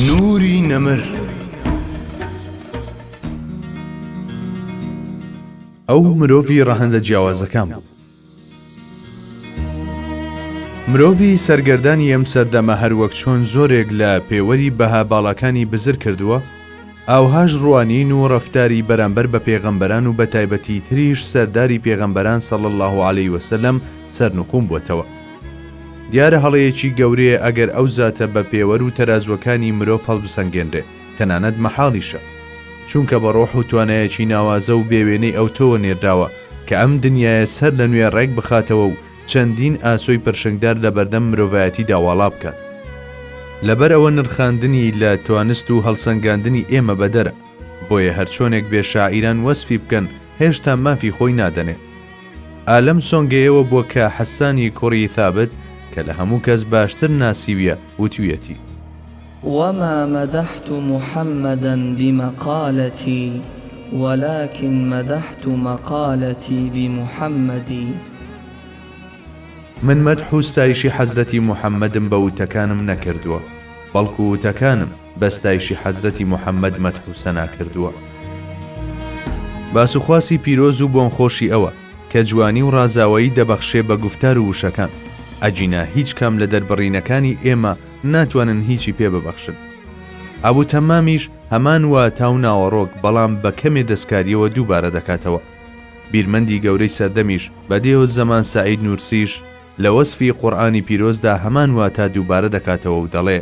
نوری نەمر ئەو مرۆڤی ڕەهەندە جیاوازەکان بوو. مرۆڤی سەرگەردانی ئەم سەردەمە هەروەک چۆن زۆرێک لە پێوەری بەها باڵاکانی بزر کردووە، ئاوهاش ڕوانین و ڕەفتاری بەرامبەر بە پێغەمبەران و بەتایبەتی تریش سەرداری پێغەمبەران صلی اللە علیە وسلم سەرنوقوم بووەتەوە. دیارە هەڵەیەکی گەورەیە ئەگەر ئەو زاتە بە پێوەر و تەرازوەکانی مرۆڤ هەڵبسەنگێنرێ، تەنانەت مەحاڵیشە. چونکە بە ڕۆح و توانایەکی ناوازە و بێ وێنەی ئەوتۆوە نێردراوە کە ئەم دنیایە سەر لە نوێ ڕێک بخاتەوە و چەندین ئاسۆی پرشنگدار لە بەردەم مرۆڤایەتیدا واڵا بکات. لەبەر ئەوە نرخاندنی لە توانست و هەڵسەنگاندنی ئێمە بەدەرە. بۆیە هەرچۆنێک بێ شاعیران وەسفی بکەن هێشتا مافی خۆی نادەنێ. ئا لەم سۆنگەیەوە بووە کە حەسانی کوڕی ثابت کە لە هەموو کەس باشتر ناسیویە وتویەتی. وما مدحت محمدا بمقالتي ولكن مدحت مقالتي بمحمد. من مەدح و ستایشی حەزرەتی محمدم بە وتەکانم نەکردووە بەڵکو وتەکانم. بە ستایشی حەزرەتی محمد مەدح و سەنا کردووە. باس و خواسی پیرۆز و بۆن خۆشی ئەوە کە جوانی و ڕازاوەیی دەبەخشێ بە گوفتار و وشەکان، ئەگینا هیچ کام لە دەربڕینەکانی ئێمە ناتوانن هیچی پێ ببەخشن. ئەبو تەمامیش هەمان واتا و ناوەڕۆک بەڵام بە کەمێ دەستکاریەوە دووبارە دەکاتەوە. بیرمەندی گەورەی سەردەمیش، بەدیع الزمان سەعید نورسیش لە وەسفی قورئانی پیرۆزدا هەمان واتا دووبارە دەکاتەوە و دەڵێ.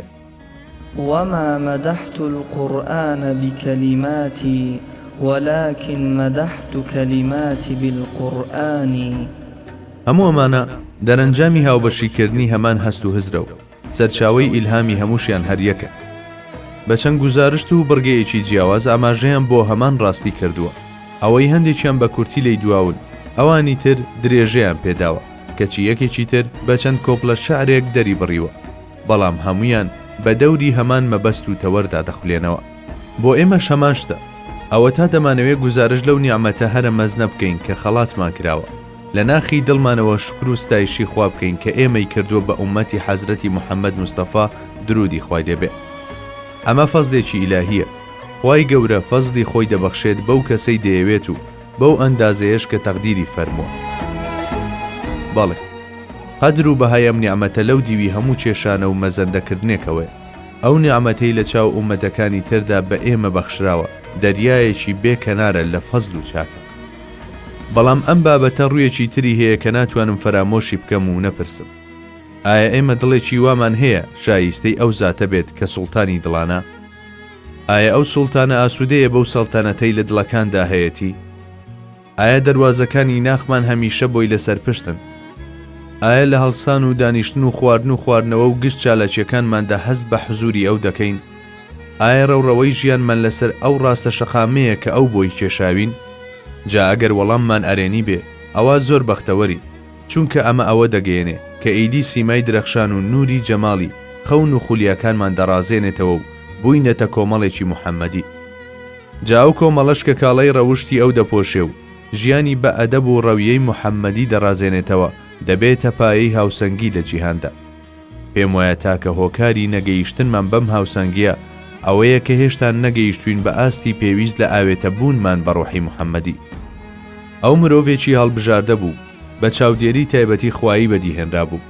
وما مدحت القرآن بکلماتی ولکن مدحت کلماتی بالقرآن. هەموو ئەمانە دەرەنجامی هاوبەشی کردنی هەمان هەست و هزرە و سەرچاوەی ئیلهامی هەمووشیان هەر یەکە. بە چەند گوزارشت و بڕگەیەکی جیاواز ئاماژەیان بۆ هەمان ڕاستی کردووە. ئەوەی هەندێکیان بە کورتی لێی دواون، ئەوانی تر درێژەیان پێداوە، کەچی یەکێکی تر بە چەند کۆپلە شعرێک دەری بڕیوە. بەڵام هەموویان بە دەوری هەمان مەبەست و تەوەردا دەخولێنەوە بۆ ئێمەش هەمان شتە ئەوەتا دەمانەوێت گوزارش لەو نیعممەتە هەرە مەزنە بکەین کە خەڵاتمان کراوە لە ناخی دڵمانەوە شکر و ستایشی خوا بکەین کە ئێمەی کردووە بە ئومەتی حەزرەتی محەممەد مستەفا درودی خوای لێبێ ئەمە فەزلێکی ئیلاهیە خوای گەورە فەزلی خۆی دەبەخشێت بەو کەسەی دەیەوێت و بەو ئەندازەیەش کە تەقدیری فەرمووە. بەڵێ، قەدر و بەهای ئەم نیعمەتە لەو دیوی هەموو چێشانە و مەزەندەکردنێکەوەیە. ئەو نیعمەتەی لە چاو ئوممەتەکانی تردا بە ئێمە بەخشراوە، دەریایەکی بێ کەنارە لە فەزل و چاکە. بەڵام ئەم بابەتە ڕوویەکی تری هەیە کە ناتوانم فەرامۆشی بکەم و نەپرسم. ئایا ئێمە دڵێکی وامان هەیە شاییستەی ئەو زاتە بێت کە سوڵتانی دڵانە؟ ئایا ئەو سوڵتانە ئاسوودەیە بەو سەڵتەنەتەی لە دڵەکاندا هەیەتی؟ ئایا دەروازەکانی ناخمان هەمیشە بۆی لەسەر پشتن؟ ئایا لە هەڵسان و دانیشتن و خواردن و خواردنەوە و گشت چالاکییەکانماندا هەست بە حزووری ئەو دەکەین؟ ئایا ڕەوڕەوەی ژیانمان لەسەر ئەو ڕاستە شەقامەیە کە ئەو بۆی کێشاوین؟ جا ئەگەر وەڵاممان ئەرێنی بێ، ئەوا زۆر بەختەوەرین. چونکە ئەمە ئەوە دەگەیەنێ کە ئیدی سیمای درەخشان و نووری جەماڵی خەون و خولیاکانمان دەڕازێنێتەوە و بووینەتە کۆمەڵێکی محەمەدی. جا ئەو کۆمەڵەش کە کاڵای ڕەوشتی ئەو دەپۆشێ و ژیانی بە ئەدەب و ڕەویەی محەمەدی دەڕازێنێتەوە، دەبێتە پایەی هاوسەنگی لە جیهاندا. پێم وایە تاکە هۆکاری نەگەیشتنمان بەم هاوسەنگییە ئەوەیە کە هێشتا نەگەیشتووین بە ئاستی پێویست لە ئاوێتە بوونمان بە ڕۆحی محەممەدی. ئەو مرۆڤێکی هەڵبژاردە بوو، بە چاودێری تایبەتی خوایی بەدیهێنرابوو.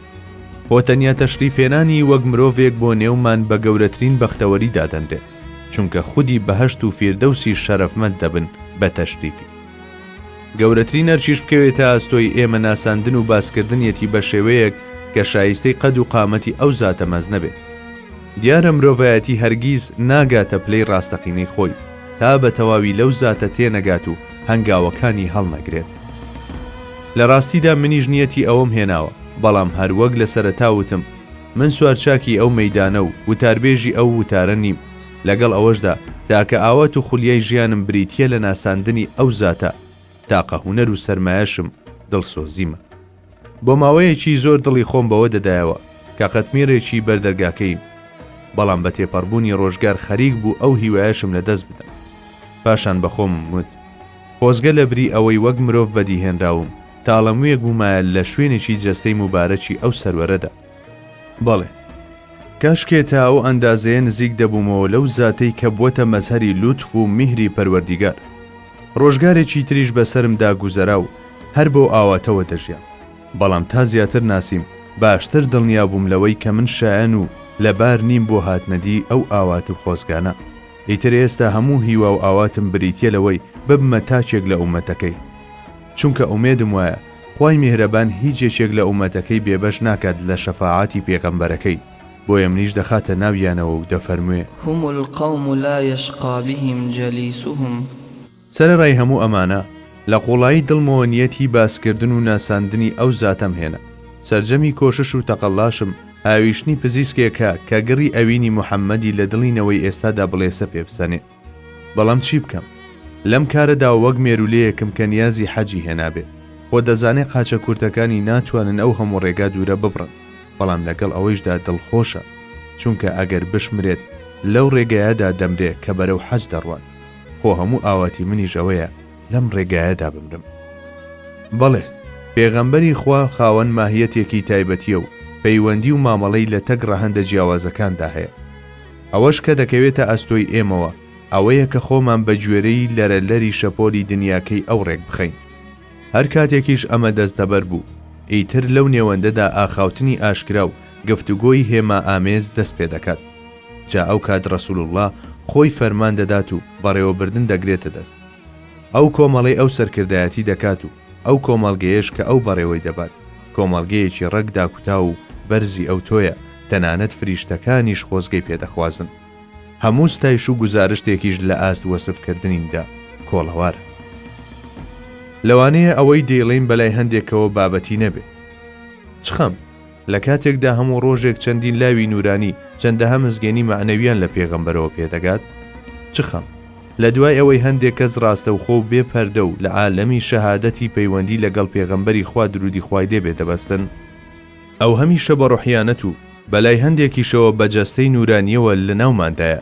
خۆ تەنیا تەشریفهێنانی وەک مرۆڤێک بۆ نێومان بە گەورەترین بەختەوەری دادەنرێت، چونکە خودی بەهەشت و فیردەوسیش شەرەفمەند دەبن بە تەشریفی. گەورەترین ئەرکیش بکەوێتە ئەستۆی ئێمە ناساندن و باسکردنیەتی بە شێوەیەک کە شایستەی قەد و قامەتی ئەو زاتە مەزنە بێت دیارە مرۆڤایەتی هەرگیز ناگاتە پلەی ڕاستەقینەی خۆی تا بە تەواوی لەو زاتە تێنەگات و هەنگاوەکانی هەڵنەگرێت لە ڕاستیدا منیش نیەتی ئەوەم هێناوە بەڵام هەروەک لە سەرەتاوتم من سوارچاکی ئەو مەدانە و وتاربێژی ئەو وتارە نیم لەگەڵ ئەوەشدا تاکە ئاوات و خولیای ژیانم بریتییە لە ناساندنی ئەو زاتە تاقە هونەر و سەرمایەشم دڵسۆزیمە بۆ ماوەیەکی زۆر دڵی خۆم بەوە دەدایەوە کە قەتمیرێکی بەردەرگاکەیم بەڵام بە تێپەڕبوونی ڕۆژگار خەریک بوو ئەو هیوایەشم لە دەست بدەم پاشان بەخۆم وت خۆزگە لە بری ئەوەی وەک مرۆڤ بەدیهێنراوم تاڵەمویەک بوومایە لە شوێنێکی جەستەی مبارەکی ئەو سەروەرەدا بەڵێ کاشکێ تا ئەو ئەندازەیە نزیک دەبوومەوە لەو زاتەی کە بووەتە مەزهەری لوتف و میهری پەروەردیگار ڕۆژگارێکی تریش بەسەرمدا گوزەرا و هەر بەو ئاواتەوە دەژیان بەڵام تا زیاتر ناسیم باشتر دڵنیا بووم لەوەی کە من شایەن و لەبار نیم بۆ هاتنەدی ئەو ئاوات و خۆزگانە ئیتر ئێستا هەموو هیوا و ئاواتم بریتە لەوەی ببمە تاکێک لە ئومەتەکەی چونکە ئومێدم وایە خوای میهرەبان هیچ یەکێک لە ئومەتەکەی بێبەش ناکات لە شەفاعاتی پێغەمبەرەکەی بۆیە منیش دەخاتە ناویانەوە و دەفەرموێ. هم القوم لا یشقی بهم جلیسهم. سەرەڕای هەموو ئەمانە لە قوڵایی دڵمەوە نیەتی باس کردن و ناساندنی ئەو زاتەم هێنا، سەرجەمی کۆشش و تەقەلاشم هاویشتنی پزیسکێکە کە گڕی ئەوینی محمدی لە دڵی نەوەی ئێستادا بڵێسە پێ بسەنێ. بەڵام چی بکەم لەم کارەدا وەک مێرولەیەکم کە نیازی حەجی هێنابێ خۆ دەزانێ قاچە کورتەکانی ناتوانن ئەو هەموو ڕێگا دوورە ببڕن بەڵام لەگەڵ ئەوەیشدا دڵخۆشە چونکە ئەگەر بشمرێت لەو ڕێگایەدا دەمرێ کە بەرەو حەج دەڕوات خۆ هەموو ئاواتی منیش ئەوەیە لەم ڕێگایەدا بمرم بەڵێ پێغەمبەری خوا خاوەن ماهیەتێکی تایبەتیە و پەیوەندی و مامەڵەی لە تەک ڕەهەندە جیاوازەکاندا هەیە ئەوەش کە دەکەوێتە ئەستۆی ئێمەوە ئەوەیە کە خۆمان بە گوێرەی لەرە لەری شەپۆلی دنیاکەی ئەو ڕێک بخەین. هەر کاتێکیش ئەمە دەستەبەر بوو، ئیتر لەو نێوەندەدا ئاخاوتنی ئاشکرا و گفتوگۆی هێما ئامێز دەست پێ دەکات. جا ئەو کات ڕەسووڵ اللە خۆی فەرمان دەدات و بەڕێوەبردن دەگرێتە دەست. ئەو کۆمەڵەی ئەو سەرکردایەتی دەکات و ئەو کۆمەڵگەیەش کە ئەو بەڕێوەی دەبات، کۆمەڵگەیەکی ڕەگ داکوتاو و بەرزی ئەوتۆیە، تەنانەت فریشتەکانیش خۆزگەی پێ دەخوازن. هەموو ستایش و گوزارشتێکیش لە ئاست وەسف کردنیندا کۆڵەوارە. لەوانەیە ئەوەی دەیڵێین بەلای هەندێکەوە بابەتی نەبێ. چ خەم! لە کاتێکدا هەموو ڕۆژێک چەندین لاوی نورانی چەندەها مزگێنی مەعنەوییان لە پێغەمبەرەوە پێدەگات، چ خەم لە دوای ئەوەی هەندێک کەس ڕاستەوخۆ و بێ پەردە و لە عالەمی شەهادەتی پەیوەندی لەگەڵ پێغەمبەری خوا درودی خوای لێ بێ دەبەستن، ئەو هەمیشە بە ڕۆحیانەت و بەلای هەندێکیشەوە بە جەستەی نورانییەوە لەناوماندایە.